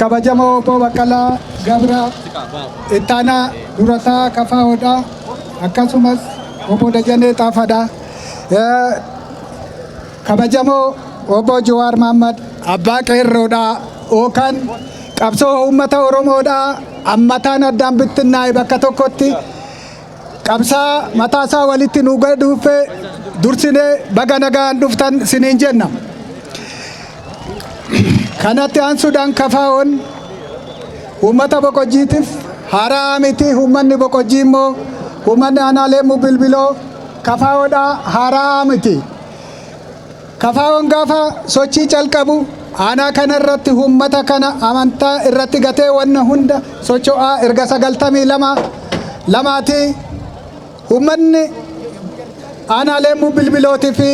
kabajamoo obbo Baqqalaa Gabraa ittaanaa durataa kafaa hodhaa akkasumas obbo Dajanee Xaafaadhaa. Kabajamoo Obbo Jawaar Mahaammad abbaa qeerroodhaa yookaan qabsoo uummata Oromoodhaa ammataan addaan bittinnaa'e bakka tokkotti qabsaa mataasaa walitti nu gaduuffee dursinee baga nagaan dhuftan siniin jenna. Kanatti aansuudhaan kafaa'oon uummata boqojjiitiif haaraa miti uummanni boqojjii immoo uummanni aanaalee bilbiloo Kafaawoodha haara'aa miti. Kafaawoon gaafa sochii calqabu aanaa kana irratti uummata kana amantaa irratti gatee wanna hunda socho'aa erga sagaltamii lama lamaati uummanni aanaa leemmuu bilbilootii fi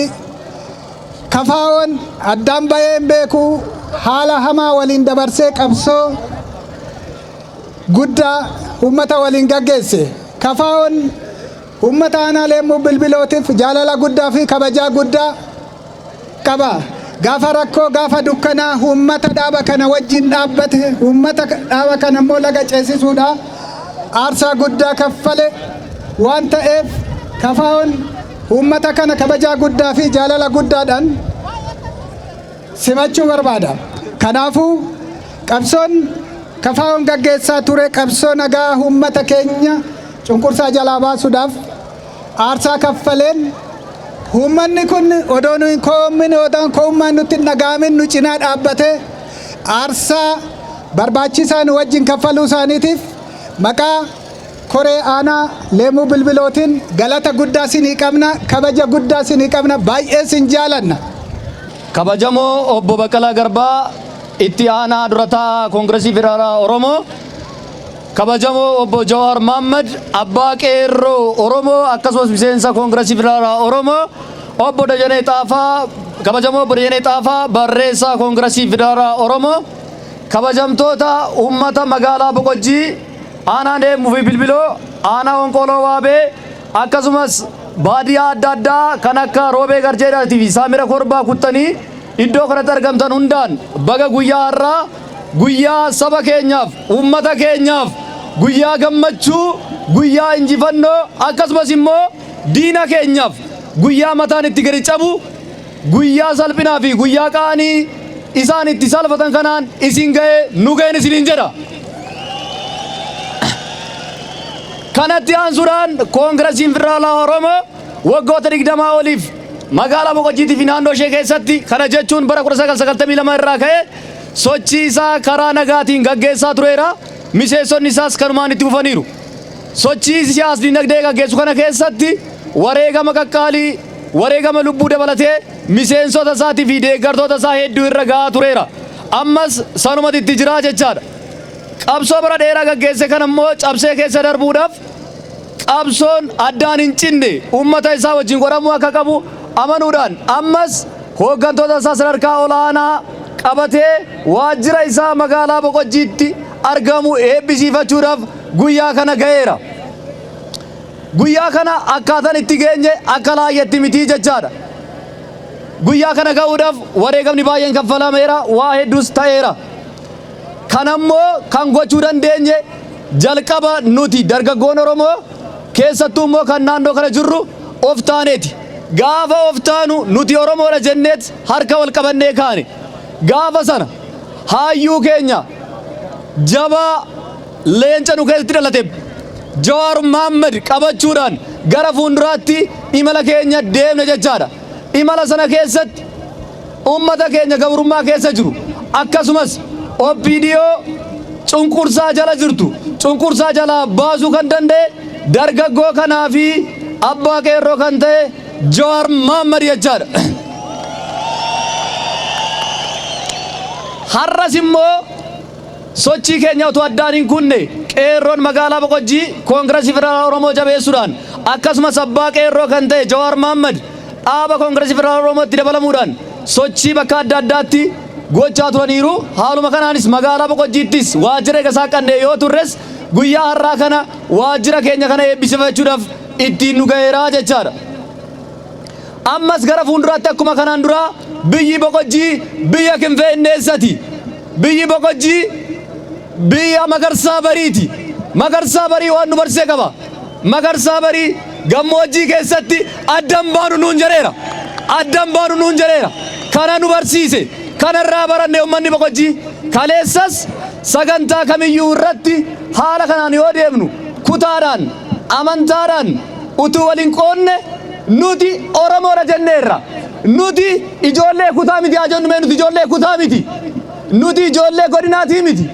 kafaawoon addaan ba'ee hin beeku haala hamaa waliin dabarsee qabsoo guddaa uummata waliin gaggeesse kafaawoon Uummata Aanaa Leemmuu Bilbilootiif jaalala guddaa fi kabajaa guddaa qaba. Gaafa rakkoo, gaafa dukkanaa uummata dhaaba kana wajjin dhaabbate, uummata dhaaba kana immoo laga ceesisuudhaa aarsaa guddaa kaffale waan ta'eef KFOn uummata kana kabajaa guddaa fi jaalala guddaadhaan simachuu barbaada. Kanaafuu qabsoon kafaa'oon gaggeessaa ture qabsoo nagaa uummata keenya cunqursaa jalaa baasuudhaaf aarsaa kaffaleen uummanni kun odoo nu hin koommin odoo koommaan nutti hin dhaga'amin nu cinaa dhaabbatee aarsaa barbaachisaa nu wajjin kaffaluu isaaniitiif maqaa Koree aanaa Leemuu Bilbilootiin galata guddaa sinii qabna, kabaja guddaa sinii qabna, baay'ee sin jaalanna. Kabajamoo Obbo Baqqalaa Garbaa Itti Aanaa Dura Taa'aa Koongiresii Federaalaa Oromoo, Kabajamoo Obbo Jawaar Mohammed Abbaa Qeerroo Oromoo akkasumas Miseensa Koongiresii Federaalaa Oromoo, Obbo Dajanee Xaafaa Kabajamoo Obbo Dajanee Xaafaa Barreessaa Koongiresii Federaalaa Oromoo, Kabajamtoota Uummata Magaalaa Boqojjii, Aanaa Deemmuu fi Bilbiloo, Aanaa Honqooloo Waabee akkasumas baadiyaa adda addaa kan akka Roobee Garjeedaatii fi Saamira Korbaa kuttanii iddoo kanatti argamtan hundaan baga guyyaa har'aa guyyaa saba keenyaaf, uummata keenyaaf guyyaa gammachuu, guyyaa injifannoo akkasumas immoo diina keenyaaf guyyaa mataan itti gadi cabu Guyyaa salphinaa fi guyyaa qaanii isaan itti salfatan kanaan isin ga'e nu ga'een isiniin jedha. Kanatti aansuudhaan Koongirasiin Federaalaa Oromoo waggoota 20 oliif magaalaa Boqojjiitii fi naannoo ishee keessatti kana jechuun bara 1992 irraa ka'ee sochii isaa karaa nagaatiin gaggeessaa tureera. Miseensonni isaas kanumaan itti fufaniiru. Sochii siyaas dinagdee gaggeessu kana keessatti wareegama qaqqaalii Wareegama lubbuu dabalatee miseensota isaati fi deeggartoota isaa hedduu irra gahaa tureera. Ammas sanumati itti jiraa jechaa dha. Qabsoo bara dheeraa gaggeesse kana immoo cabsee keessa darbuudhaaf qabsoon addaan hin cinne uummata isaa wajjin godhamuu akka qabu amanuudhaan ammas hooggantoota isaa sadarkaa olaanaa qabatee waajjira isaa magaalaa Boqojjiitti argamu eebbisiifachuudhaaf guyyaa kana gaheera. Guyyaa kana akkaatan itti geenye akka laayyetti mitii jechaadha. Guyyaa kana ga'uudhaaf wareegamni baay'een kaffalameera, waa hedduus ta'eera. Kanammoo kan gochuu dandeenye jalqaba nuti dargaggoon Oromoo keessattuu immoo kan naannoo kana jirru of taaneeti. Gaafa of taanu nuti Oromoodha jenneet harka wal qabannee kaane. Gaafa sana haayyuu keenya jabaa, Leenca nu keessatti dhalate Jawaar Mohaammed qabachuudhaan gara fuulduraatti imala keenya deemna jechaadha. Imala sana keessatti ummata keenya gabrummaa keessa jiru akkasumas OPDO cunqursaa jala jirtu cunqursaa jalaa baasuu kan danda'e dargaggoo kanaa fi abbaa qeerroo kan ta'e Jawaar Mohaammed jechaadha. Har'as immoo Sochii keenya utuu addaan hin kunne Qeerroon magaalaa Boqojjii Koongirasii Federaalaa Oromoo jabeessuudhaan akkasumas abbaa Qeerroo kan ta'e Jawaar Mahaammad dhaaba Koongirasii Federaalaa Oromootti dabalamuudhaan sochii bakka adda addaatti gochaa turaniiru. Haaluma kanaanis magaalaa Boqojjiittis waajjira eega saaqqannee yoo turres guyyaa har'aa kana waajjira keenya kana eebbisifachuudhaaf ittiin nu gaheera jechaadha. Ammas gara fuulduraatti akkuma kanaan duraa biyyi Boqojjii biyya Kinfeenneessati. Biyyi Boqojjii biyya Magarsaa Bariiti. Magarsaa Barii waan nu barsee qaba. Magarsaa Barii gammoojjii keessatti addan baanu nuun jedheera. Addan baanu nuun jedheera. Kana nu barsiise. Kanarraa baranne ummanni Boqojjii. Kaleessas sagantaa kamiyyuu irratti haala kanaan yoo deemnu kutaadhaan amantaadhaan utuu wal hin qoodne nuti Oromoodha jenneerra. Nuti ijoollee kutaa miti haa jennu mee nuti ijoollee kutaa miti. Nuti ijoollee godinaatii miti.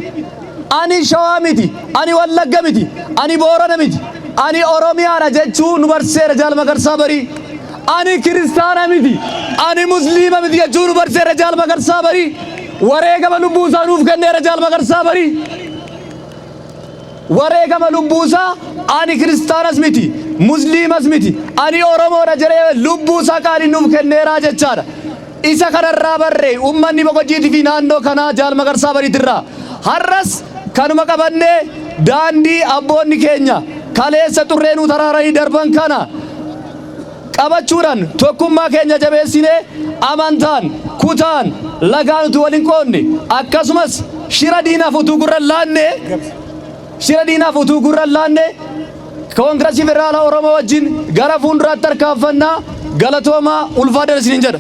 Ani Shawaa miti, ani Wallagga miti, ani Boorana miti, ani Oromiyaadha jechuu nu barsiiseera Jaal Magarsaa Barii. Ani kiristaana miti, ani musliima miti jechuu nu barsiiseera Jaal Magarsaa Barii. Wareegama lubbuu isaa nuuf kenneera Jaal Magarsaa Barii. Wareegama lubbuu isaa ani kiristaanas miti, musliimas miti, ani Oromoodha jedhee lubbuu isaa qaaliin nuuf kenneera jechaadha. Isa kana irraa barre uummanni Boqojjiitii fi naannoo kanaa Jaal Magarsaa Bariit irraa. Har'as kanuma qabannee daandii abboonni keenya kaleessa xurree nuu taraaranii darban kana, qabachuudhaan tokkummaa keenya jabeessinee amantaan, kutaan, lagaan utuu wal hin qoodne akkasumas shira diinaaf utuu gurra hin laanne shira diinaaf utuu gurra hin laanne Koongirasii Federaalaa Oromoo wajjin gara fuulduraatti tarkaanfannaa galatoomaa ulfaadhaan isiniin jedha.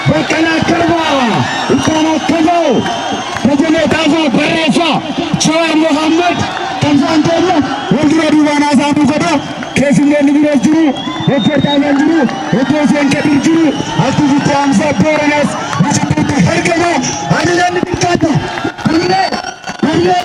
Baqqalaa Garbaa Ilkaan Akkaboo Dajanee Xaafaa Barreessaa Jawaar Mohaammed Qabsaan Keenya wal dura duubaan haasaa nu godha keessummoonni biroo jiru Dr. Xaafaan jiru Obbo Hussein Kadir jiru Aktivisti Hamzaa Booranas Bishoppiitti argama Halilaan ni bilchaata Hamilee Hamilee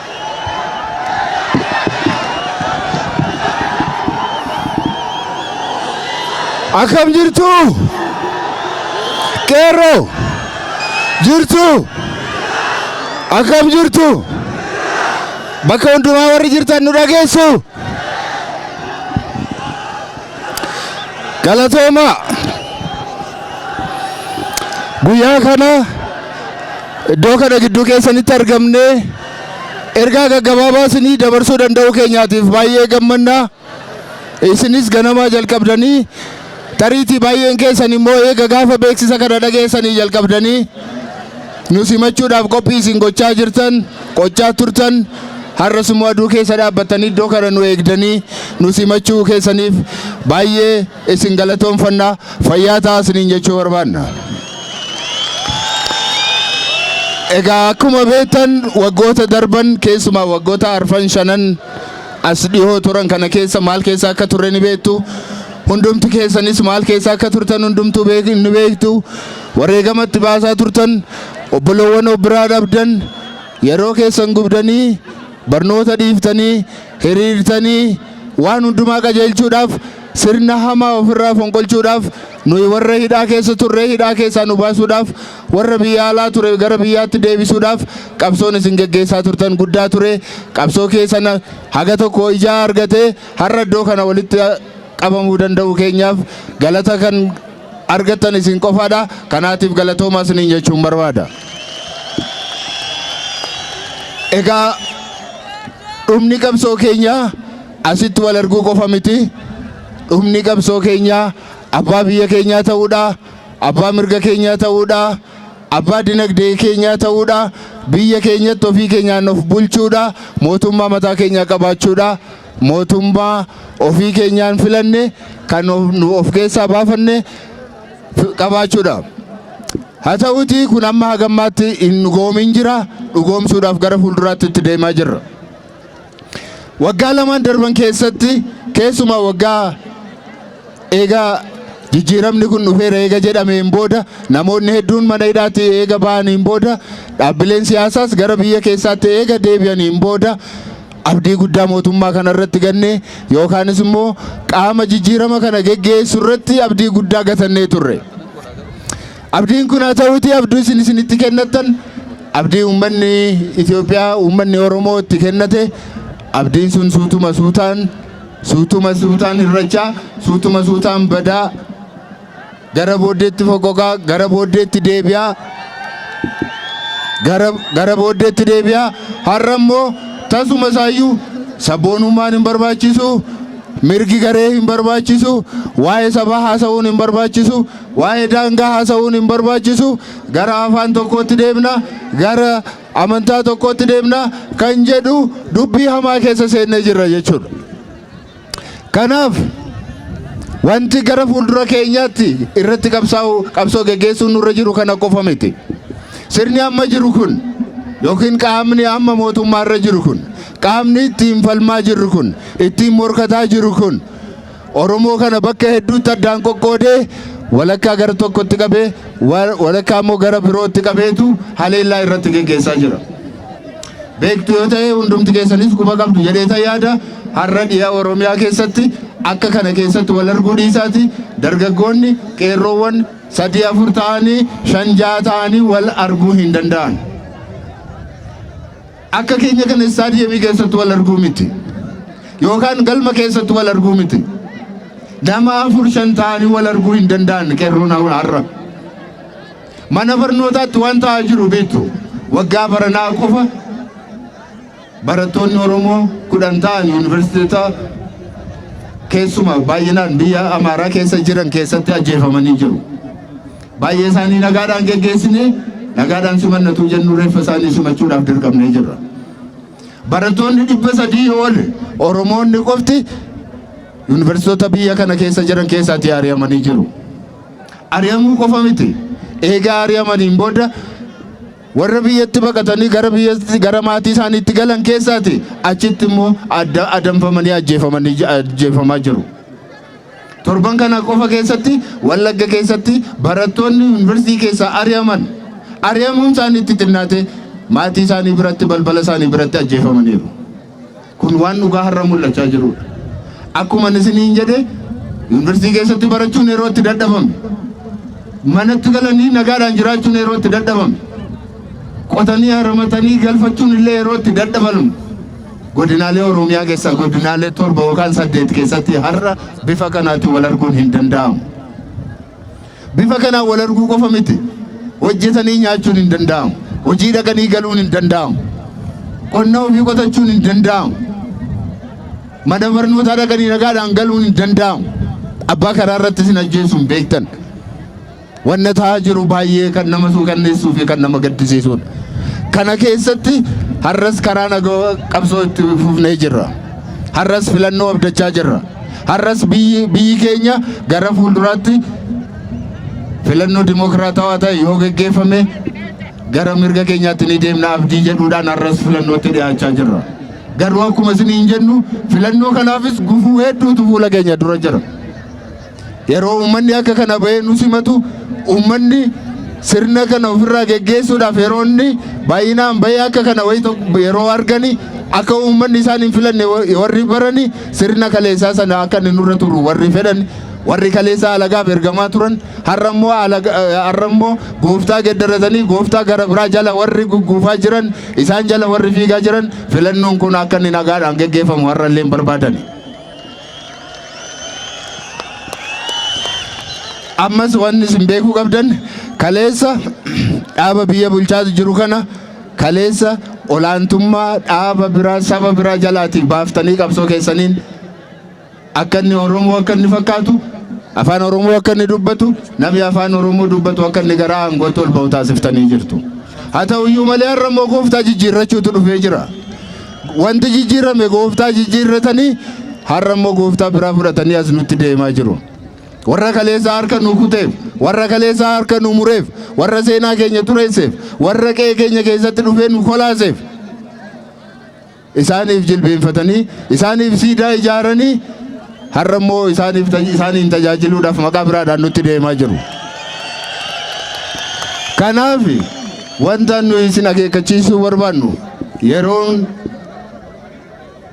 Akkam jirtu? Qeerroo! Jirtu? Akkam jirtu? Bakka hundumaa warri jirtan nu dhageessu? Galatoomaa! Guyyaa kana iddoo kana gidduu keessanitti argamnee ergaa gaggabaabaa isinii dabarsuu danda'uu keenyaatiif baay'ee gammanna. Isinis ganamaa jalqabdanii tariitii baay'een keessan immoo eega gaafa beeksisa kana dhageessanii jalqabdanii Nu simachuudhaaf qophii isin gochaa jirtan, qochaa turtan, har'as immoo aduu keessa dhaabbattanii iddoo kana nu eegdanii nu simachuu keessaniif baay'ee isin galatoomfanna fayyaa ta'aa isiniin jechuu barbaanna. Egaa akkuma beektan waggoota darban keessumaa waggoota arfan shanan as dhihoo turan kana keessa maal keessa akka turre ni beektu. Hundumti keessanis maal keessa akka turtan hundumtuu ni beektu. Wareegama itti baasaa turtan, obbolowwan of biraa dhabdan, yeroo keessan gubdanii, barnoota dhiiftanii, hiriirtanii, waan hundumaa qajeelchuudhaaf, sirna hamaa ofirraa fonqolchuudhaaf, nuyi warra hidhaa keessa turre hidhaa keessaa nu baasuudhaaf, warra biyya alaa ture gara biyyaatti deebisuudhaaf qabsoon isin geggeessaa turtan guddaa ture. Qabsoo keessan haga tokko ijaa argatee har'a iddoo kana walitti qabamuu danda'uu keenyaaf galata kan argattan isin qofaadha. Kanaatiif galatoomaa isiniin jechuun barbaada. Egaa dhumni qabsoo keenyaa asitti wal arguu qofa miti. Dhumni qabsoo keenyaa abbaa biyya keenyaa ta'uudha. Abbaa mirga keenyaa ta'uudha. Abbaa dinagdee keenyaa ta'uudha. Biyya keenyatti ofii keenyaan of bulchuudha. Mootummaa mataa keenyaa qabaachuudha. Mootummaa ofii keenyaan filanne kan nu of keessaa baafanne qabaachuudha. Haa ta'uutii kun amma hagammaatti hin dhugoomin jira dhugoomsuudhaaf gara fuulduraatti itti deemaa jirra. Waggaa lamaan darban keessatti keessumaa waggaa eegaa jijjiiramni kun dhufeera eega jedhameen booda namoonni hedduun mana hidhaatti eega ba'aniin booda dhaabbileen siyaasaas gara biyya keessaatti eega deebi'aniin booda abdii guddaa mootummaa kana irratti gannee yookaanis immoo qaama jijjiirama kana geggeessu irratti abdii guddaa gatannee turre. Abdiin kun haa ta'uuti abdii isin isinitti kennattan abdii uummanni Itoophiyaa uummanni Oromoo itti kennate abdiin sun suutuma suutaan suutuma suutaan hirrachaa suutuma suutaan badaa gara booddeetti foqoqaa gara booddeetti deebi'aa gara gara booddeetti deebi'aa har'a immoo tasuma isaayyuu sabboonummaan hin barbaachisu mirgi garee hin barbaachisu waa'ee sabaa haasa'uun hin barbaachisu waa'ee daangaa haasa'uun hin barbaachisu gara afaan tokkootti deemna gara amantaa tokkootti deemna kan jedhu dubbii hamaa keessa seennee jirra jechuudha. Kanaaf wanti gara fuuldura keenyaatti irratti qabsaa'u qabsoo geggeessuun nurra jiru kana qofa miti. Sirni amma jiru kun yookiin qaamni amma mootummaa irra jiru kun qaamni ittiin falmaa jirru kun ittiin morkataa jiru kun Oromoo kana bakka hedduutti addaan qoqqoodee walakkaa gara tokkotti qabee walakkaa immoo gara birootti qabeetu haleellaa irratti geggeessaa jira. beektu yoo ta'e hundumti keessanis quba qabdu jedheeta yaada har'a dhiha Oromiyaa keessatti akka kana keessatti wal arguu dhiisaati dargaggoonni qeerroowwan sadii afur ta'anii shan ja'a ta'anii wal arguu hin danda'an. Akka keenya kana istaadiyeemii keessatti wal arguu miti yookaan galma keessatti wal arguu miti nama afur shan ta'anii wal arguu hin danda'an qeerroon har'a. Mana barnootaatti waan ta'aa jiru beektu. Waggaa baranaa qofa barattoonni Oromoo kudhan ta'an yuunivarsiitota keessumaa baay'inaan biyya Amaaraa keessa jiran keessatti ajjeefamanii jiru. Baay'ee isaanii nagaadhaan geggeessine nagaadhaan simannatu jennu reeffa isaanii simachuudhaaf dirqamnee jirra. Barattoonni dhibba sadii ol Oromoonni qofti yuunivarsiitota biyya kana keessa jiran keessaatti ari'amanii jiru. Ari'amuu qofa miti. Eega ari'amaniin booda warra biyyatti baqatanii gara biyyatti gara maatii isaaniitti galan keessaati achitti immoo adda adamfamanii ajjeefamanii j- ajjeefamaa jiru. Torban kana qofa keessatti Wallagga keessatti barattoonni yuunivarsiitii keessaa ari'aman ari'amuun isaanii itti xinnaate maatii isaanii biratti balbala isaanii biratti ajjeefamaniiru. Kun waan dhugaa har'a mul'achaa jirudha. Akkuma isiniin jedhe yuunivarsiitii keessatti barachuun yeroo itti dadhabame manatti galanii nagaadhaan jiraachuun yeroo itti dadhabame qotanii haramatanii galfachuun illee yeroo itti dadhabamu godinaalee Oromiyaa keessaa godinaalee torba yookaan saddeet keessatti har'a bifa kanaatiin wal arguun hin danda'amu. Bifa kanaan wal arguu qofa miti. Hojjetanii nyaachuun hin danda'amu. Hojii dhaqanii galuun hin danda'amu. Qonna ofii qotachuun hin danda'amu. Mana barnootaa dhaqanii nagaadhaan galuun hin danda'amu. Abbaa karaa irratti sin ajjeesuun beektan. Wanna ta'aa jiru baay'ee kan nama suukanneessuu fi kan nama gaddisiisudha. Kana keessatti har'as karaa nagaa qabsoo itti fufnee jirra. Har'as filannoo abdachaa jirra. Har'as biyyi biyyi keenya gara fuulduraatti filannoo dimokiraatawaa ta'e yoo geggeeffame gara mirga keenyaatti ni deemna abdii jedhuudhaan har'as filannootti dhiyaachaa jirra. Garuu akkuma isiniin jennu filannoo kanaafis gufuu hedduutu fuula keenya dura jira. Yeroo uummanni akka kana bahee nu simatu uummanni sirna kana ofirraa geggeessuudhaaf yeroo inni baay'inaan bahee akka kana wayii tokko yeroo argani akka uummanni isaan hin filanne warri barani Sirna kaleessaa sana akka inni nurra turu warri fedhan warri kaleessaa alagaaf ergamaa turan har'a immoo alaga- eh, har'a immoo gooftaa geddaratanii gooftaa gara biraa jala warri gugguufaa jiran isaan jala warri fiigaa jiran filannoon kun akka inni nagaadhaan geggeeffamu har'a illee hin barbaadani. Ammas wanni isin beekuu qabdan kaleessa dhaaba biyya bulchaa jiru kana kaleessa olaantummaa dhaaba biraa saba biraa jalaatiif baaftanii qabsoo keessaniin akka inni Oromoo akka inni fakkaatu afaan Oromoo akka inni dubbatu namni afaan Oromoo dubbatu akka inni gara aangootti ol ba'u taasiftanii jirtu. Haa ta'u iyyuu malee har'a immoo gooftaa jijjiirrachuutu dhufee jira. Wanti jijjiirame gooftaa jijjiirratanii har'a immoo gooftaa biraa fudhatanii as nutti deemaa jiru. Warra kaleessa harka nu kuteef, warra kaleessa harka nu mureef, warra seenaa keenya xureesseef, warra qe'ee keenya keessatti dhufee nu kolaaseef isaaniif jilbeenfatanii, isaaniif siidaa ijaaranii har'a immoo isaaniif isaaniin tajaajiluudhaaf maqaa biraadhaan nutti deemaa jiru. Kanaaf wanta nuyi isin akeekkachiisuu barbaannu yeroon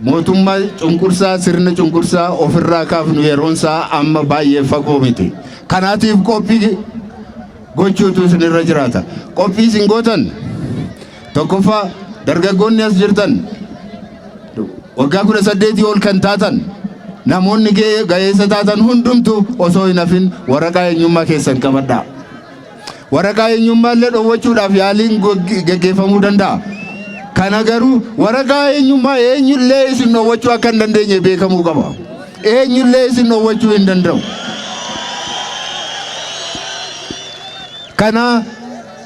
Mootumma cunqursaa sirna cunqursaa ofirraa kaafnu yeroon isaa amma baay'ee fagoo miti. Kanaatiif qophii gochuutu isinirra jiraata. Qophii isin gootan tokkoffaa dargaggoonni as jirtan waggaa kudha saddeetii ol kan taatan namoonni ga'eessa taatan hundumtu osoo hin hafin waraqaa eenyummaa keessan qabadhaa. Waraqaa eenyummaallee dhoowwachuudhaaf yaaliin geggeeffamuu danda'a. Kana garuu waraqaa eenyummaa eenyullee isin dhoowwachuu akka hin dandeenye beekamuu qaba. Eenyullee isin dhoowwachuu hin danda'u. Kana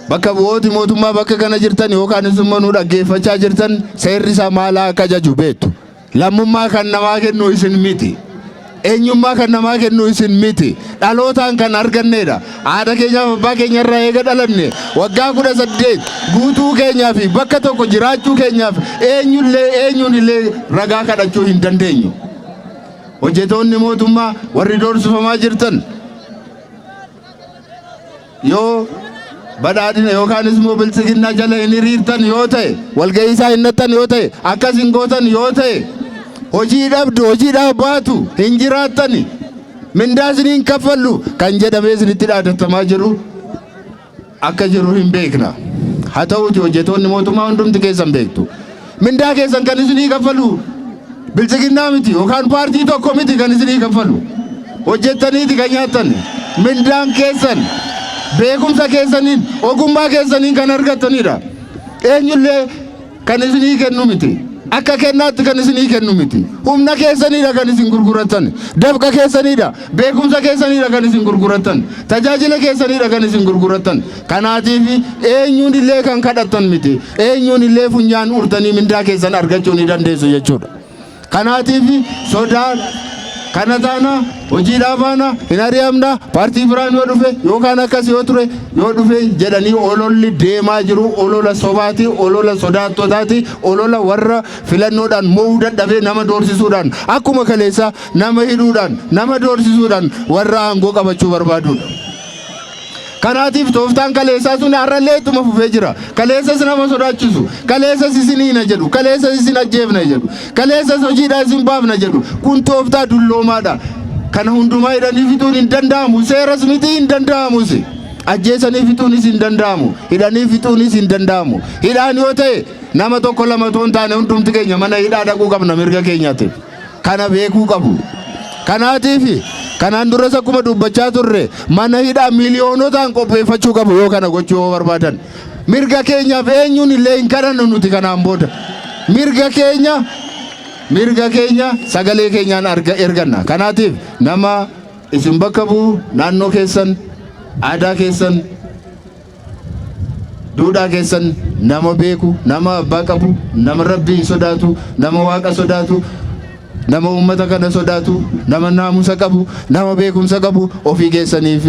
bakka bu'ooti mootummaa bakka kana jirtan yookaan immoo nu dhaggeeffachaa jirtan seerri isaa maal akka ajaju beektu. Lammummaa kan namaa kennu isin miti. Eenyummaa kan namaa kennu isin miti. Dhalootaan kan arganneedha. Haadha keenyaaf abbaa keenya irraa eega dhalanne waggaa kudha saddeet guutuu keenyaa fi bakka tokko jiraachuu keenyaaf eenyullee eenyuun illee ragaa kadhachuu hin dandeenyu. Hojjetoonni mootummaa warri doorsifamaa jirtan Yoo badhaadhina yookaanis immoo biltsiginnaa jala hin hiriirtan yoo ta'e walga'ii isaa hin dhaqxan yoo ta'e akkas hin gootan yoo ta'e hojii dhabdu hojiidhaaf baatu hin jiraattani mindaa isinii hin kaffallu kan jedhamee isinitti dhaadatamaa jiru akka jiru hin beekna. Haa ta'uuti hojjetoonni mootummaa hundumti keessan beektu. Mindaa keessan kan isinii kaffalu bilchiginnaa miti yookaan paartii tokko miti kan isinii kaffalu. Hojjettaniiti kan nyaattan. Mindaan keessan beekumsa keessaniin ogummaa keessaniin kan argattanidha. Eenyullee kan isinii kennu miti. Akka kennaatti kan isinii kennu miti. Humna keessaniidha kan isin gurgurattan. Dafqa keessaniidha. Beekumsa keessaniidha kan isin gurgurattan. Tajaajila keessaniidha kan isin gurgurattan. Kanaatiif eenyuun illee kan kadhattan miti. Eenyuun illee funyaan urtanii mindaa keessan argachuu ni dandeessu jechuudha. Kanaatiif sodaan kana taana hojii dhaabaana hin ari'amna paartii biraan yoo dhufe yookaan akkas yoo ture yoo dhufe jedhanii ololli deemaa jiru olola sobaati olola sodaattotaati olola warra filannoodhaan mo'uu dadhabee nama doorsisuudhaan akkuma kaleessa nama hidhuudhaan nama doorsisuudhaan warra aangoo qabachuu barbaadudha. Kanaatiif tooftaan kaleessaa sun har'allee ittuma fufee jira. Kaleessas nama sodaachisu, kaleessas isin hiina jedhu, kaleessas isin ajjeefna jedhu, kaleessas hojiidhaa isin baafna jedhu. Kun tooftaa dulloomaadha. Kana hundumaa hidhanii fixuun hin danda'amu. Seeras miti hin danda'amus. Ajjeesanii fixuunis hin danda'amu. Hidhanii fixuunis hin danda'amu. Hidhaan yoo ta'e nama tokko lama otoo hin taane hundumti keenya mana hidhaa dhaquu qabna mirga keenyaatiif. kana beekuu qabu. Kanaatiif kanaan duras akkuma dubbachaa turre mana hidhaa miiliyoonotaan qopheeffachuu qabu yoo kana gochuu yoo barbaadan. Mirga keenyaaf eenyuun illee hin kadhannu nuti kanaan booda. Mirga keenya mirga keenya sagalee keenyaan arga erganna. Kanaatiif nama isin bakka bu'u naannoo keessan aadaa keessan duudhaa keessan nama beeku nama abbaa qabu nama rabbii sodaatu nama waaqa sodaatu nama uummata kana sodaatu nama naamusa qabu nama beekumsa qabu ofii keessaniif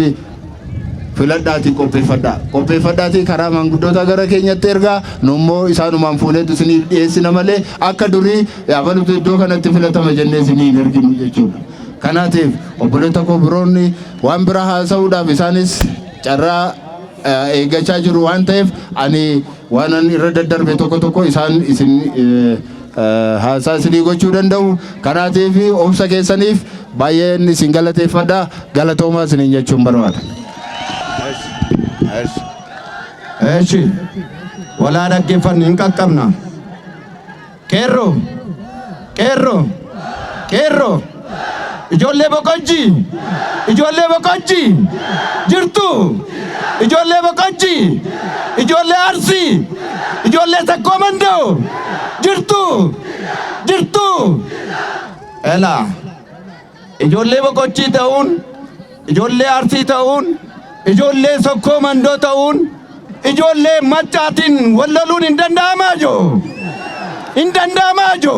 filadhaatii qopheeffadhaa qopheeffadhaatii karaa maanguddootaa gara keenyatti ergaa nummoo isaanumaan fuuneetu isiniif dhiyeessina malee akka durii abalutu iddoo kanatti filatama jennee isinii hin erginu jechuudha kanaatiif obboleetta koo biroonni waan biraa haasa'uudhaaf isaanis carraa eeggachaa jiru waan ta'eef ani waanan irra daddarbe tokko tokko isaan isin haasaa isinii gochuu danda'u kanaatiif obsa keessaniif baay'een isin galateeffadha galatoomaa isiniin jechuun barbaada. Eshi walaa dhaggeeffannu hin qaqqabna. Qeerroo! Qeerroo! Qeerroo! Ijoollee Boqojjii! Ijoollee Boqojjii! Jirtu! Ijoollee Boqojjii! Ijoollee Arsii! Ijoollee Takkoo Mandoo! Jirtu! Jirtu! Elaa! Ijoollee Boqochii ta'uun, ijoollee Arsii ta'uun, ijoollee Sokkoo Mandoo ta'uun, ijoollee Maccaatiin wal loluun hin danda'amaa jo? Hin danda'amaa jo?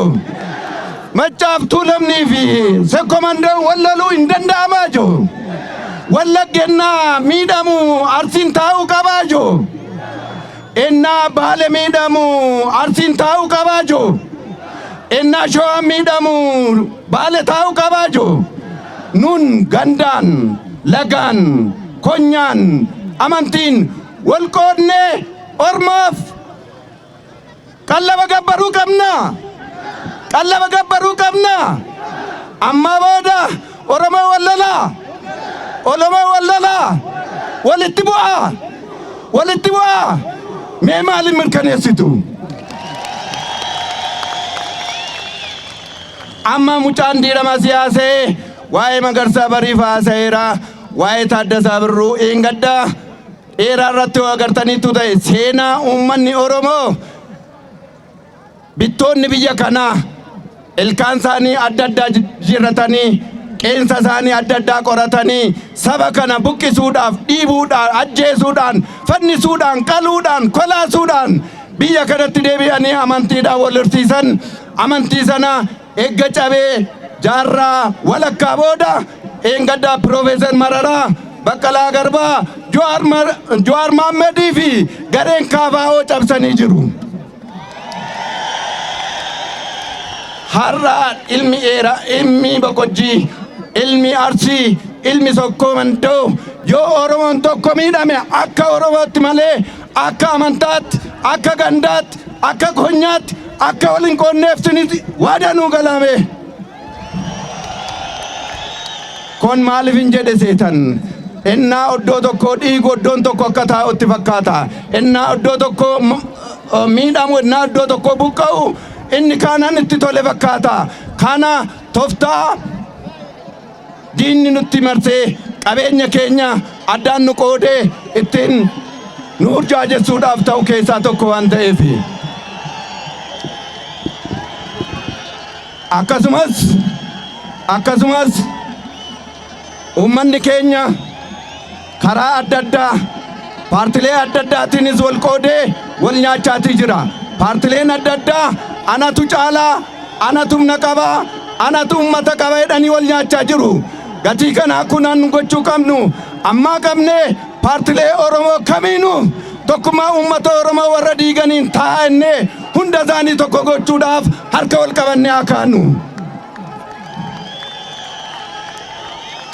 Maccaaf Tuulamnii fi Sokkoo Mandoo wal loluu hin danda'amaa jo? Wallaggennaa miidhamu Arsiin taa'uu qabaa jo? Ennaa Baale miidhamu Arsiin taa'uu qabaa jo? Ennaa Showaan miidhamu Baale taa'uu qabaa jo? Nun gandaan, lagaan, konyaan, amantiin wal qoodnee ormaaf Qallaba gabbaruu qabnaa? Qallaba gabbaruu qabnaa? Ammaa booda Oromoo wal lolaa? Olomoo wal lolaa? Walitti bu'aa? Walitti bu'aa? Mee maaliin mirkaneessitu? Amma mucaan diirama siyaasee waa'ee Magarsaa Bariif haasa'eera, waa'ee Taaddasaa Birruu Iingaddaa, dheeraa irratti yoo agartaniittu ta'e seenaa uummanni Oromoo bittoonni biyya kanaa ilkaan isaanii adda addaa jijjiirratanii qeensa isaanii adda addaa qoratanii saba kana buqqisuudhaaf dhiibuudhaan ajjeesuudhaan fannisuudhaan qaluudhaan kolaasuudhaan biyya kanatti deebi'anii amantiidhaan wal horsiisan amantii sana Egga cabee jaarraa walakkaa booda dheengaddaa Piroofeesar Mararaa, Baqqalaa Garbaa, Jawaar Maammadii fi gareen KFO cabsanii jiru. Har'a ilmi Eeraa, ilmi Boqojjii, ilmi Arsii, ilmi Sokkoo Mandoo yoo Oromoon tokko miidhame akka Oromootti malee Akka amantaatti, akka gandaatti, akka konyaatti, akka wal hin qoonneeftiniti waada nuu galaamee. Kon maaliif hin jedhe seetan? Ennaa oddoo tokkoo dhiigu oddoon tokko akka taa'utti fakkaata. Ennaa oddoo tokkoo miidhamu, ennaa oddoo tokkoo buqqa'u inni kaanan itti tole fakkaata. Kana toftaa diinni nutti marsee qabeenya keenya addaan nu qoodee ittiin nu burjaajessuudhaaf ta'u keessaa tokko waan ta'eef. Akkasumas akkasumas uummanni keenya karaa adda addaa paartilee adda addaatiinis wal qoodee wal nyaachaatii jira. Paartileen adda addaa anatu caalaa, anatu humna qaba, anatu ummata qaba jedhanii wal nyaachaa jiru. Gatii kanaa kunan gochuu qabnu ammaa qabnee paartilee Oromoo kamiinuu tokkummaa uummata Oromoo warra diiganiin taa'aa innee hunda isaanii tokko gochuudhaaf harka wal qabannee haa kaanu.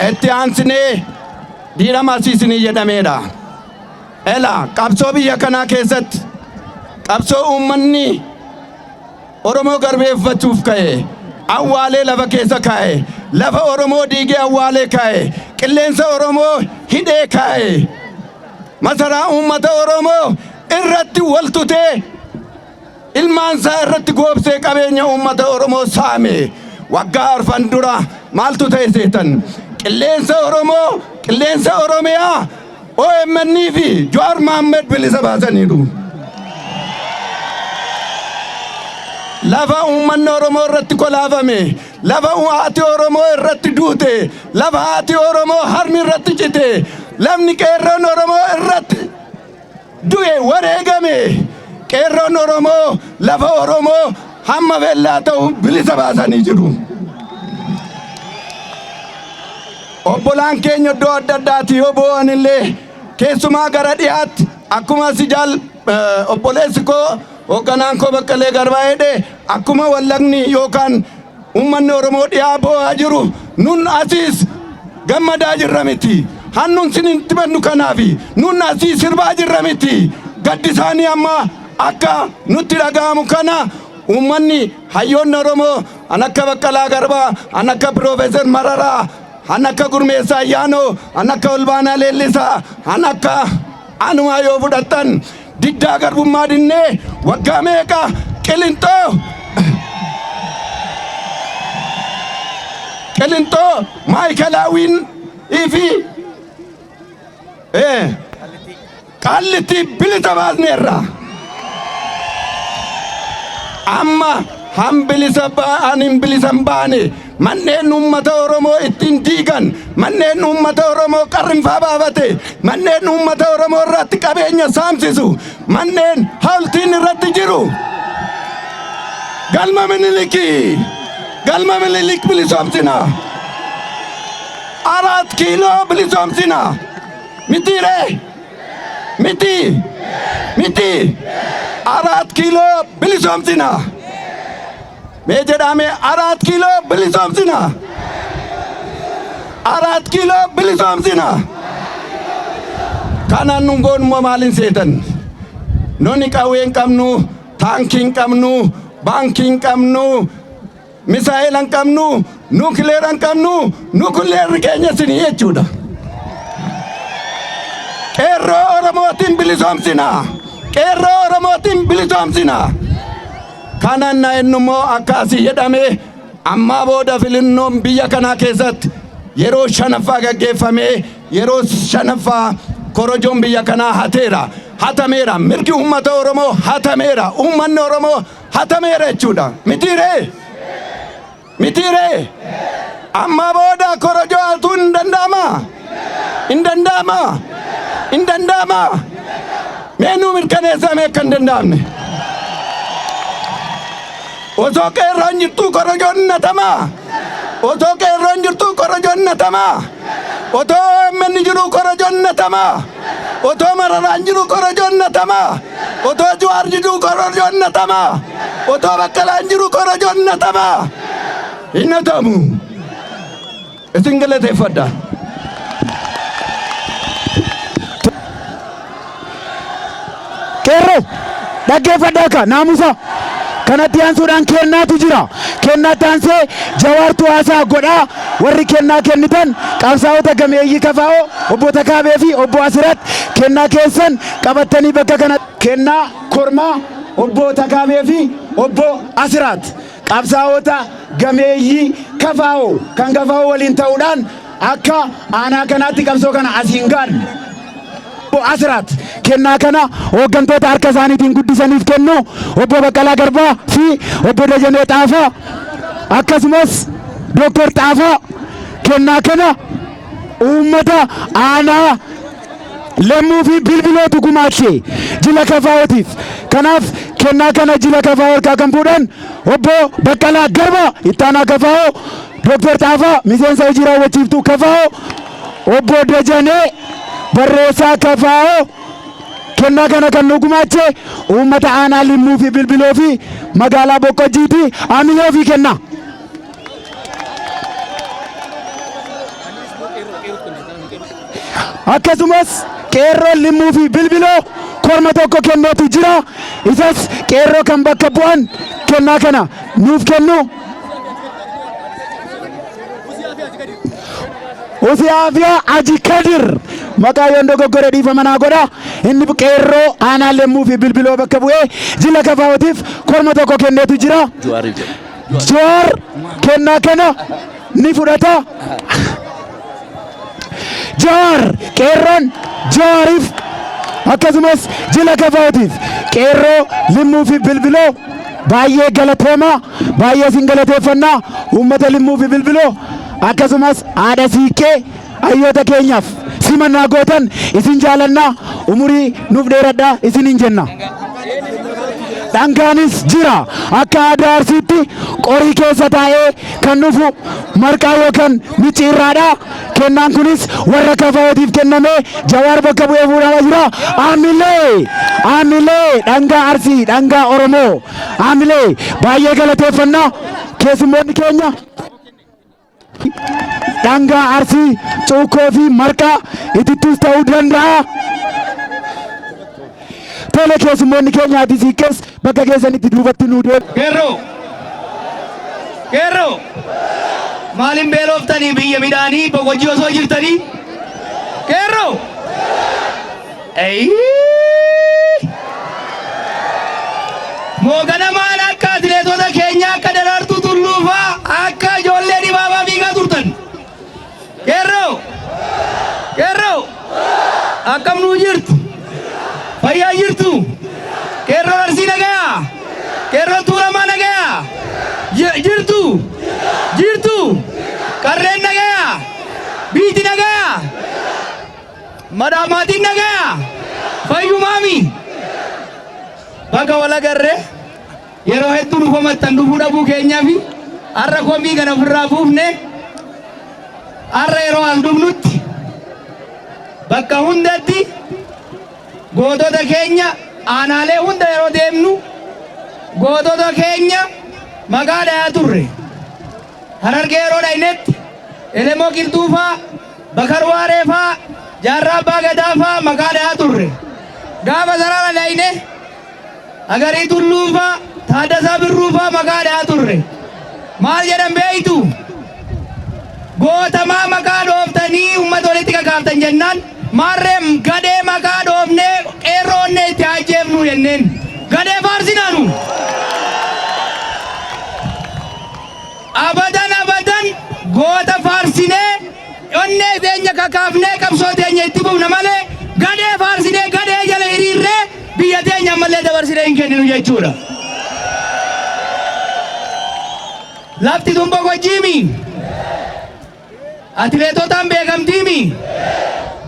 Itti aansinee diina marsiisinii jedhameedha. Ela qabsoo biyya kanaa keessatti qabsoo uummanni Oromoo garbeeffachuuf ka'e awwaalee lafa keessa kaa'e lafa Oromoo diigee awwaalee kaa'e qilleensa Oromoo hidhee kaa'e masaraa uummata Oromoo irratti wal tutee ilmaan isaa irratti goobsee qabeenya uummata Oromoo saame waggaa arfan dura maaltu ta'e seetan qilleensa Oromoo qilleensa Oromiyaa OMN fi Jawaar Mohammed bilisa baasaniiru. lafa uummanni Oromoo irratti kolaafame, lafa haati Oromoo irratti duute, lafa haati Oromoo harmi irratti cite, lafni qeerroon Oromoo irratti du'e wareegame qeerroon Oromoo lafa Oromoo hamma bellaa ta'u bilisa baasanii jiru. Obbolaan keenya iddoo adda addaati yoo boo'an illee keessumaa gara dhiyaatti akkuma si jaal obboleessi koo hoogganaan koo baqqalee garbaa jedhe akkuma wallagni yookaan Ummanni Oromoo dhiyaa boo'aa jiru nun asiis gammadaa jirra miti. Han nun sinitti bannu kanaafi. Nun asii sirbaa jirra miti. Gaddi isaanii amma akka nutti dhaga'amu kana ummanni hayyoonni Oromoo an akka Baqqalaa Garbaa, an akka Piroofeesar Mararaa, an akka Gurmeessaa Ayyaanoo, an akka Olbaanaa Leellisaa, an akka Anumaa yoo fudhattan diddaa garbummaa dinnee waggaa meeqa qilinxoo qilinxoo maayikalaawwiin fi qaallittii bilisa baasneerra. Amma han bilisa ba'an hin bilisan baane Manneen uummata Oromoo ittiin diigan, manneen uummata Oromoo qarrinfaa baafate, manneen uummata Oromoo irratti qabeenya saamsisu, manneen hawultiin irratti jiru. Galma Minilikii! Galma Minilik bilisoomsina! Araat kiiloo bilisoomsina! Mitiiree? Miti! Miti! Araat kiiloo bilisoomsina! Mee jedhaa mee araat kiiloo bilisoomsina. Araat kiiloo bilisoomsina. Kanaan nun goonummoo maaliin seetan? Noni qawwee hin qabnu, taankii hin qabnu, baankii hin qabnu, misaa'ela hin qabnu, nuukileera hin qabnu, nuukileerri keenya isinii jechuudha. Qeerroo Oromootiin bilisoomsina. Qeerroo Oromootiin bilisoomsina. Kanan na ennummoo akka asi jedhame ammaa booda filinnoon biyya kanaa keessatti yeroo shanaffaa gaggeeffamee yeroo shanaffaa korojoon biyya kanaa hateera hatameera mirgi uummata oromoo hatameera uummanni oromoo hatameera jechuudha mitiiree Mitii ree? Ammaa booda korojoo hatuun hin danda'amaa? Hin danda'amaa? Hin danda'amaa? Mee nuu mirkaneessaa mee akka hin danda'amne. Osoo qeerroon jirtuu korojoon hin hatamaa? Osoo qeerroon jirtuu korojoon hin hatamaa? Otoo OMN jiruu korojoon hin hatamaa? Otoo mararaan jiru korojoon natama. Otoo Juwaar jiduu korojoon natama. Otoo Baqqalaan jiru korojoon natama. Hin natamu. Isin galateeffadha. Qeerroo! Dhaggeeffadhaa ka, naamusaa! Kana itti aansuudhaan kennaatu jira. Kennaa itti aansee Jawaartu haasaa godha. Warri kennaa kennitan qabsaa'ota gameeyyii KFO, Obbo Takaabee fi Obbo Asirat kennaa keessan qabattanii bakka kana. Kennaa kormaa Obbo Takaabee fi Obbo Asirat qabsaa'ota gameeyyii KFO kan KFO waliin ta'uudhaan Akka aanaa kanaatti qabsoo kana asiin ga'an Obbo Asiraat kennaa kana hooggantoota harka isaaniitiin guddisaniif kennu Obbo Baqqalaa Garbaa fi Obbo Dajanee Xaafaa akkasumas Dooktar Xaafaa kennaa kana uummata aanaa Lemmuu fi Bilbilootu gumaache jila kafaa'ootiif. Kanaaf kennaa kana jila kafaa'oo harkaa kan fuudhan Obbo Baqqalaa Garbaa ittaanaa kafaa'oo Doktar Xaafaa, Miseensa Hojii Raawwachiiftuu kfo, Obbo Dajanee, Barreessaa kfo, Kennaa kana kan nuu gumaache uummata Aanaa Limmuu fi Bilbiloo fi Magaalaa Boqqojjiiti. Amilee ofii kennaa. Akkasumas Qeerroon Limmuu fi Bilbiloo korma tokko kenneetu jira. Isas Qeerroo kan bakka bu'an kennaa kana nuuf kennu. Usiyaafia Aji Kadir maqaa yoon dogoggore dhiifama naa godha inni qeerroo aanaa lemmuu fi bilbiloo bakka bu'ee jila kafaa'ootiif korma tokko kenneetu jira. Juwaariif jedhu. Jawaar kennaa kana ni fudhata. Jawaar Qeerroon Jawaariif akkasumas jila KFOtiif Qeerroo Limmuu fi Bilbiloo baay'ee galatoomaa baay'ee isin galateeffannaa uummata Limmuu fi Bilbiloo akkasumas haadha siiqqee hayyoota keenyaaf simannaa gootan isin jaalannaa umurii nuuf dheeradhaa isiniin jenna. Dhangaanis jira. Akka aadaa Arsiitti qorii keessa taa'ee kan dhufu marqaa yookan micciirraadha. Kennaan kunis warra KFOtiif kennamee Jawaar bakka bu'ee fuudhamaa jira. Aamilee! Aamilee! Dhangaa Arsii, dhangaa Oromoo. Aamilee! Baay'ee galateeffanna keessummoonni keenya. Dhangaa Arsii, Cuukkoo fi Marqaa itittuus ta'uu danda'a. Tole keessummoonni keenya Addis Hiikkees bakka keessanitti duubatti nuu deemu. Qeerroo! Qeerroo! Maaliin beelooftanii biyya midhaanii boqojii osoo jirtanii? Qeerroo! Eyyii! Moo ganamaan akka atileetota keenya akka Daraartuu Tulluu faa akka ijoollee dibaabaa fiigaa turtan. Qeerroo! Qeerroo! Akkam nuu jirtu? Fayyaa jirtu? Qeerroo Arsii nagayaa? Qeerroo Tuulamaa nagayaa? Ji- Jirtu? Jirtu? Qarreen nagayaa? Biiti nagayaa? Madam maatiin nagaya? Fayyumaami? Baga wal agarre. Yeroo hedduu nu komattan dhufuu dhabuu keenyafi har'a komii kana ofirraa buufne har'a yeroo as dhufnutti bakka hundatti gootota keenya aanaalee hunda yeroo deemnu gootota keenya maqaa dhayaa turre. Harargee yeroo dhaynetti Elemoo Qilxuufaa Bakar Waaree faa, Jaarraa Abbaa Gadaa faa maqaa dhahaa turre. Gaafa Sarara dhayne Agarii Tulluu faa, Taaddasaa Birruu faa maqaa dhahaa turre. Maal jedhan beektu? Goota maa maqaa dhooftanii uummata walitti kakaaftan jennaan maarree gadhee maqaa dhoofnee qeerroo onnee itti ajjeefnu jenneen. Gadhee faarsinaanu. Abadan abadan goota faarsinee onnee teenya kakaafnee qabsoo teenya itti fufna malee gadhee faarsinee gadhee jala hiriirree biyya teenya ammallee dabarsinee hin kenninu jechuudha. Lafti tun boqojjiimi. Atileetotaan beekamtii mi?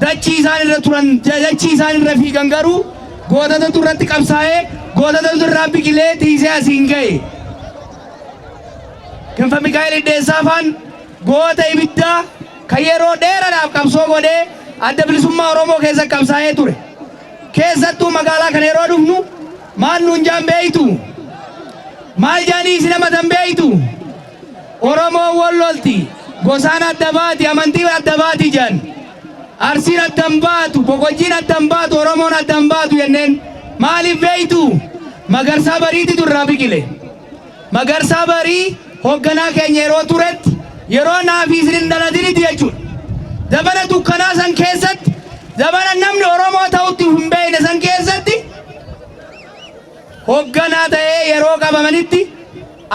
Dachii isaan irra turan, dachii isaan irra fiigan garuu gootatatu irratti qabsaa'ee, gootatatu irraa biqilee tiisee asiin ga'e. Kinfa Mikaa'el Iddeessaa faan goota ibiddaa kan yeroo dheeraadhaaf qabsoo godhee adda bilisummaa Oromoo keessa qabsaa'ee ture. Keessattuu magaalaa kana yeroo dhufnu maal nuun jaan beeytu? Maal jaanii isin amatan beeytu? Oromoon wol lolti, gosaan adda baati, amantiin adda baati jedhan. Arsiin adda hin baatu, Boqojjiin adda hin baatu, Oromoon adda hin baatu jenneen. Maaliif beektu? Magarsaa Bariititu irraa biqile. Magarsaa Barii hoogganaa keenya yeroo turetti yeroo naa fi isin hin dhalatinitti jechuudha. Zabana dukkanaa san keessatti, zabana namni Oromoo ta'utti hin beekne san keessatti hogganaa ta'ee yeroo qabamanitti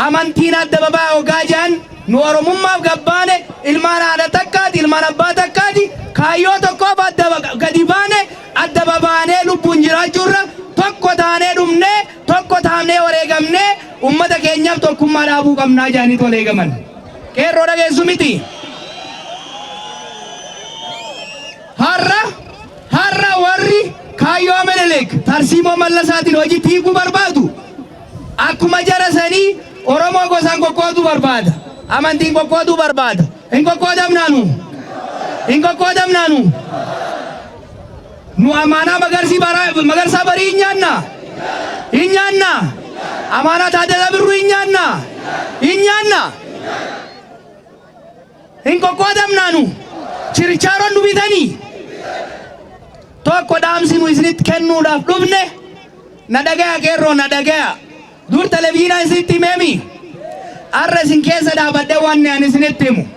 amantiin adda babaa hoggaa jedhan nu oromummaaf gabbaane ilmaan haadha takkaati ilmaan abbaa takkaati kaayyoo tokkoof adda ba- gadi baane adda babaanee lubbuun jiraachuurra tokko taanee dhumnee tokko taanee wareegamnee ummata keenyaaf tokkummaa dhaabuu qabnaa jedhanii tolee gaman qeerroo dhageessu miti. Har'a har'a warri kaayyoo Minilik tarsiimoo Mallasaatiin hojiitti hiikuu barbaadu akkuma jara sanii Oromoo gosaan qoqqooduu barbaada. Amantiin qoqqooduu barbaada. Hin qoqqoodamnaanu. Hin qoqqoodamnaanu. Nu amaanaa magarsii baraa magarsaa barii hin nyaanna. Hin nyaanna. Amaanaa taadala birruu hin nyaanna. Hin nyaanna. Hin qoqqoodamnaa nu chirichaaroon nu bitanii. Tokko dhaamsi nu isinitti kennuudhaaf dhufne na dhagaya qeerroo na dhagaya. Dur televiziinaa isinitti himeemi. Har'a isin keessa dhaabadhee wanni ani isinitti himu.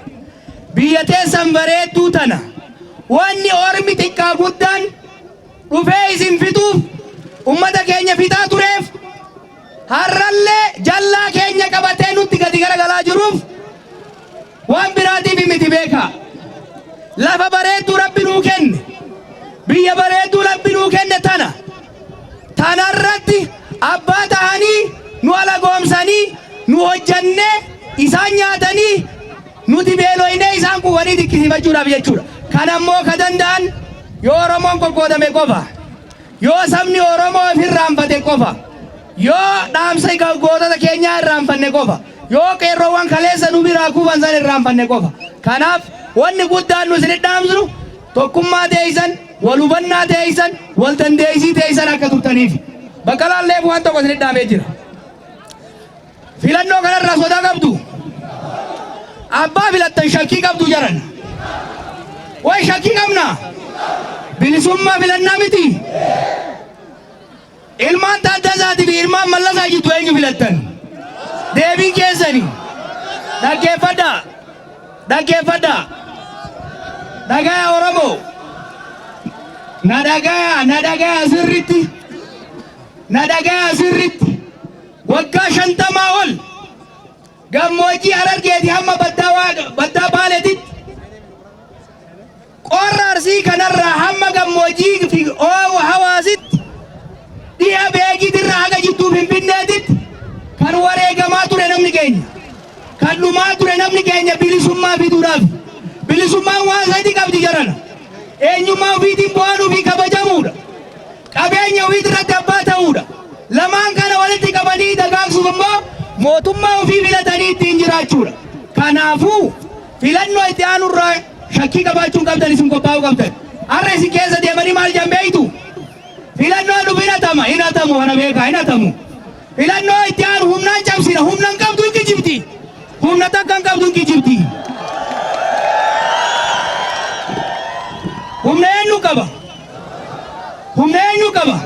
Biyya teessan bareedduu tana wanni ormi xiqqaa guddaan dhufee isin fixuuf ummata keenya fixaa tureef Har'allee jallaa keenya qabatee nutti gadi garagalaa jiruuf waan biraatiif miti beekaa. Lafa bareedduu Rabbi nuu kenne, biyya bareedduu Rabbi nuu kenne tana. Tanarratti abbaa tahanii nu alagoomsanii nu hojjannee isaan nyaatanii nuti beeloynee isaan quufanii dinqisiifachuudhaaf jechuudha. Kanammoo ka danda'an yoo Oromoon qoqqoodame qofa. Yoo sabni Oromoo if irraanfate qofa, yoo dhaamsa gootota keenyaa irraanfanne qofa, yoo qeerroowwan kaleessa nu biraa kufan san irraanfanne qofa. Kanaaf wanni guddaan nu isin dhaamsinu tokkummaa teeysan, wal hubannaa teeysan, wal dandeeysii teeysan akka turtaniif. Baqqalaan Leef waan tokko isin dhaamee jira. Filannoo kanarraa sodaa qabdu? Abbaa filattan shakkii qabdu jaran. Way shakkii qabna? Bilisummaa filannaa miti? Ilmaan Taaddasaati fi ilmaan Mallasaa jiddu eenyu filattan? Deebiin keessani. Dhaggeeffadhaa. Dhaggeeffadhaa. Dhagaya Oromoo. Na dhagaya, na dhagaya sirritti. Na dhagaya sirritti. Waggaa shantamaa ol gammoojjii Harargeeti hamma baddaa Waaqa- baddaa Baaleetitti qorra Arsii kanarraa hamma gammoojjii fi oowa hawaasitti dhiha beekiitirraa haga jidduu Finfinneetitti kan wareegamaa ture namni keenya. Kan dhumaa ture namni keenya bilisummaa fiduudhaaf. Bilisummaan waan sadii qabdi jarana. Eenyummaa ofiitiin bu'aanuu fi kabajamuudha. qabeenya ofii irratti abbaa ta'uudha. Lamaan kana walitti qabanii dagaagsuuf immoo mootummaa ofii filatanii ittiin jiraachuudha. Kanaafuu filannoo itti aanu irraa shakkii qabaachuun qabdan isin qophaa'uu qabdan. Har'a isin keessa deemanii maal jedhan beektu? Filannoo dhufu hin hatama, hin hatamu kana beekaa, hin hatamu. Filannoo itti aanu humnaan cabsina, humna hin qabdu hin kijibdi. Humna takka hin qabdu hin kijibdi. Humna eenyu qaba? Humna eenyu qaba?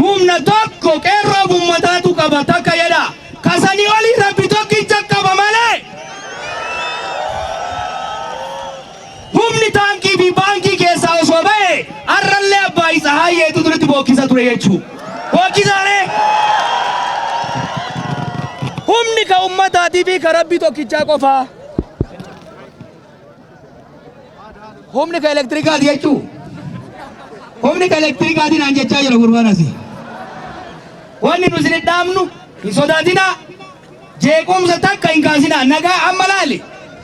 Humna tokko qeerroo ummataatu qaba takka jedha. Kasanii olii rabbi tokkicha qaba malee. Humni taankii fi baankii keessaa osoo ba'e har'allee abbaa isa haayyeetu duritti bookkisa ture jechuu. Bookkisaalee. Humni ka ummataatii fi ka rabbi tokkichaa qofaa. Humni ka elektirikaati jechuu. Humni ka elektirikaati naan jechaa jira gurbaan asii. Wanni nu isin dhaamnu hin sodaatinaa. Jeequmsa takka hin kaasinaa. Nagaa amma laali.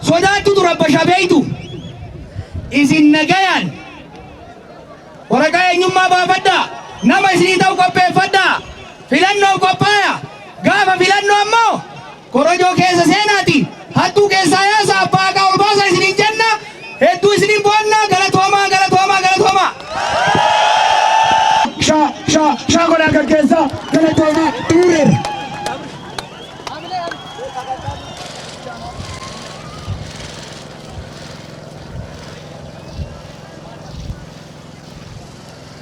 Sodaattu tura basha beeytu. Isin nagayaan waraqaa eenyummaa baafadhaa. Nama isinii ta'u qopheeffadhaa. Filannoof qophaaya. Gaafa filannoo ammoo Korojoo keessa seenaati hattuu keessaa yaasa abbaa haqaa ol baasa isiniin jenna hedduu isiniin boonnaa galatoomaa galatoomaa galatoomaa. Sha sha sha godhaa gaggeessaa galatoomaa xumureera.